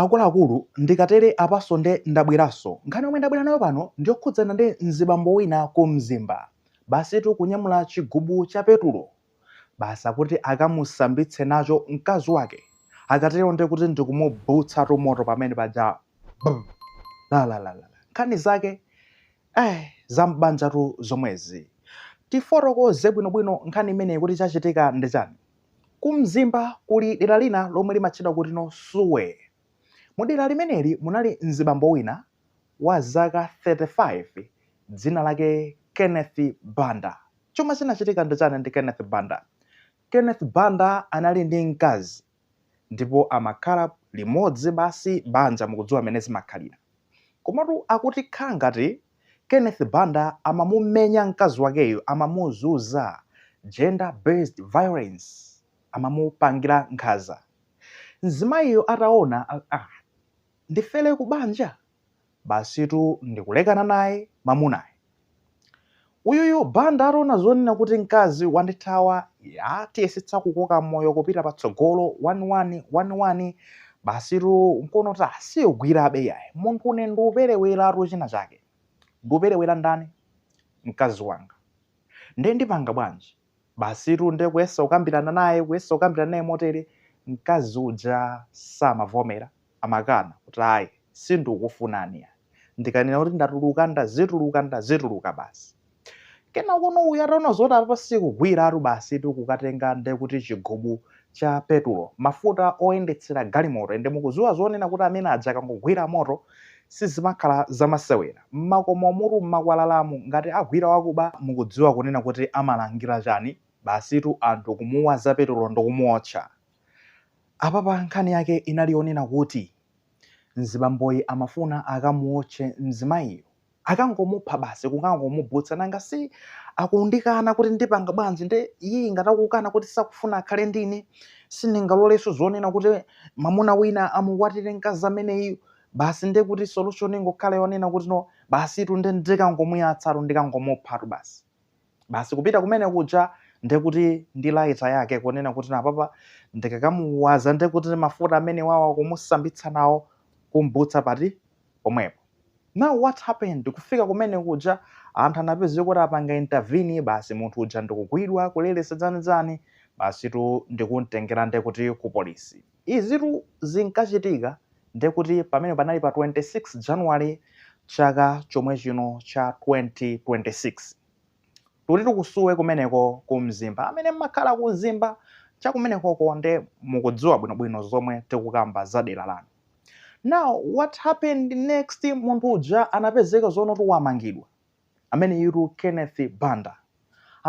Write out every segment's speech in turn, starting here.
Akuluakulu ndikatere apaso nde ndabweraso. Nkhani yomwe ndabwera nayo pano ndiyokhudzana ndi mzibambo wina ku Mzimba. Basitu kunyamula chigubu cha petulo basi akuti akamusambitse nacho mkazi wake. Akatero ndekuti ndikumubutsatu moto pamene paja bum! Lalalalala. Nkhani zake eh! Zam'banjatu zomwezi. Tifotokoze bwinobwino nkhani imeneyi kuti chachitika ndi chani? Ku Mzimba kuli dera lina lomwe limatchedwa kuti no Suwe. Mu dera limeneli munali mzibambo wina wa zaka 35 dzina lake Kenneth Banda. Chomwe chinachitika ndi chani ndi Kenneth Banda? Kenneth Banda anali ndi mkazi ndipo amakhala limodzi basi banja mukudziwa mmene zimakhalira. Komatu akuti khala ngati Kenneth Banda amamumenya mkazi wakeyo amamuzuza, gender based violence, amamupangira nkhaza. Mzimayiyo ataona aah ndifere ku banja basitu ndikulekana naye mamunayi. Uyuyu Banda ataona zonena kuti mkazi wandithawa aah tiyesetsa kukoka moyo kupita patsogolo one one one one Basitu nkuona kuti ah siugwirabe iyayi. Munthu une ndikupereweratu china chake. Ndikuperewera ndani? Mkazi wanga. Nde ndipanga bwanji? Basitu nde kuyesa kukambirana naye, kuyesa kukambirana naye motere, mkazi uja samavomera, amakana kuti ayi, sindikukufunani iyayi. ndikanena kuti ndatuluka ndazituluka ndazituluka basi kenaka no uyu ataona zoti apa sikugwiratu basitu kukatenga nde kuti chigubu cha petulo mafuta oyendetsera galimoto ende mukuziwa zonena kuti amene aja akangogwira moto sizimakhala zamasewera mmakomomutu mmakwalalamu ngati agwira wakuba mukudziwa kunena kuti amalangira chani basitu anthu kumuwaza petulo ndikumuotcha apapa nkhani yake inali yonena kuti Mzibamboyi amafuna akamuotche mzimayiyo. Akangomupha basi kukangomubutsa nanga si akundikana kuti ndipanga bwanji nde iyeyi ngati akukana kuti sakufuna akhale ndine sindingaloleso zonena kuti mamuna wina amukwatire mkazi ameneyo basi ndekuti solution ingokhala yonena kuti no basitu nde ndikangomuyatsatu ndikangomuphatu basi. basi kupita kumene kuja ndekuti ndi laita yake kunena kuti napapa ndikakamuwaza ndekuti mafuta amenewawa kumusambitsa nawo kumbutsa pati pomwepo now what happened kufika kumene kuja anthu anapezeka kuti apanga intervene basi munthu uja ndikugwidwa kuleretsa zanizani basitu ndikumtengera ndekuti ku polisi Izitu zinkachitika ndiye kuti pamene panali pa 26 January chaka chomwe chino cha 2026. Tikuti ku Kusuwe kumeneko ku Mzimba. Amene mmakhala ku Mzimba cha kumenekoko nde mukudziwa bwinobwino zomwe tikukamba za dera lanu. Now what happened next munthu uja anapezeka zonoti wamangidwa. Ameneyutu Kenneth Banda.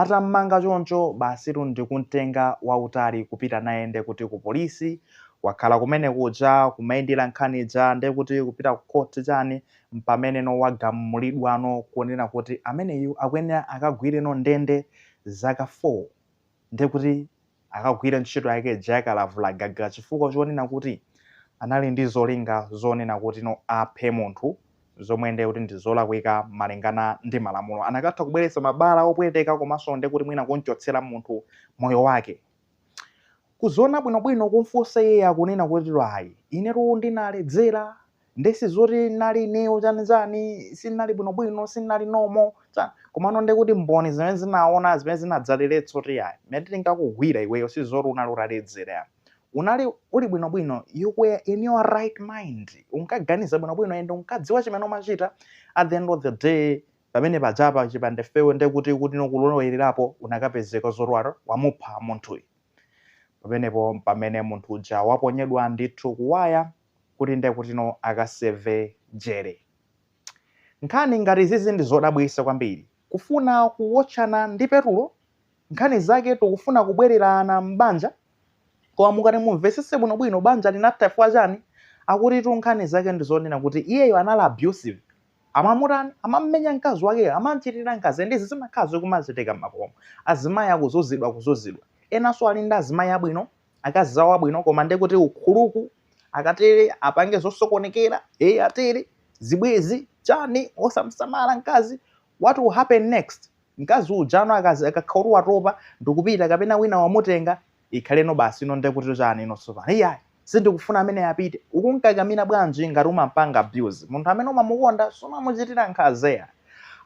Atammanga choncho basitu ndikumtenga wautali kupita naye nde kuti ku police, wakhala kumene kuja kumayendera nkhani ija nde kuti kupita ku court chani mpameneno wagamulidwano kunena kuti ameneyu akuyenera akagwireno ndende zaka 4. ndiye kuti akagwire ntchito yake ija yakalavula gaga chifukwa chonena kuti anali ndi zolinga zonena kuti no aphe munthu zomwe ndiye kuti ndi zolakwika malingana ndi malamulo anakatha kubweretsa mabala opweteka komanso ndiye kuti mwina kumchotsera munthu moyo wake kuziona bwinobwino kumfunsa iye akunena kuti ayi inetu ndinaledzera nde sizoti ndinali ineyo chani chani sindinali bwinobwino sindinali nomo chani komano nde kuti mboni zimene zinaona zimene zinadzaleletsa zati ayi mmene tinkakugwira iweyo sizoti unali utaledzera ya unali uli bwinobwino you were in your right mind unkaganiza bwinobwino and unkadziwa chimene umachita at the end of the day pamene pajapa chipanda ifeyo nde kuti kuti no kulowererapo unakapezeka zoti waro wamupha munthuyu pamenepo pamene munthu uja waponyedwa ndithu kuwaya kuti nde kutino akaseve jele nkhani ngati izizi ndizodabwitsa kwambiri kufuna kuwotchana ndi petulo nkhani zake tikufuna kubwererana m'banja koma mukati mumvesese bwino bwino banja linatha chifukwa chani akutitu nkhani zake ndizonena kuti iyeyo anali abusive amamutani amamumenya mkazi wakeyo amamchitira nkhanza ende izi zimakhala zikumachitika m'makomo azimayi akuzuzidwa kuzuzidwa enanso ali ndi azimayi abwino akazi zawo abwino koma nde kuti ukhuluku akatere apange zosokonekera eye atere zibwezi chani osamsamala mkazi what will happen next mkazi ujano akakhala kuti watopa ndikupita kapena wina wamutenga ikhaleno basi ino nde kuti chani ino tsopano iyayi sindikufuna ameneyu apite ukumkakamira bwanji ngati umampanga abuse munthu amene umamukonda sumamuchitira nkhanza eya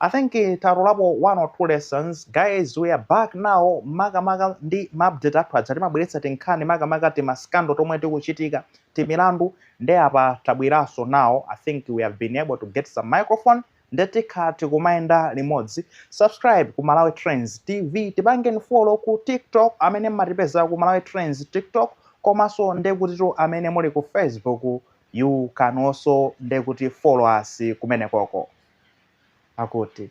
I think eh, tatolapo one or two lessons guys we are back now makamaka ndi maupdate athu aja timabweretsa tinkhani makamaka timaskando tomwe tikuchitika timilandu nde apa tabweranso nawo i think we have been able to get some microphone nde tikha tikumayenda limodzi subscribe ku malawi trends tv tipangeni follow ku tiktok amene mmatipeza ku malawi trends tiktok komanso ndekutitu amene muli ku facebook you can also ndekuti follow us kumenekoko. Akuti.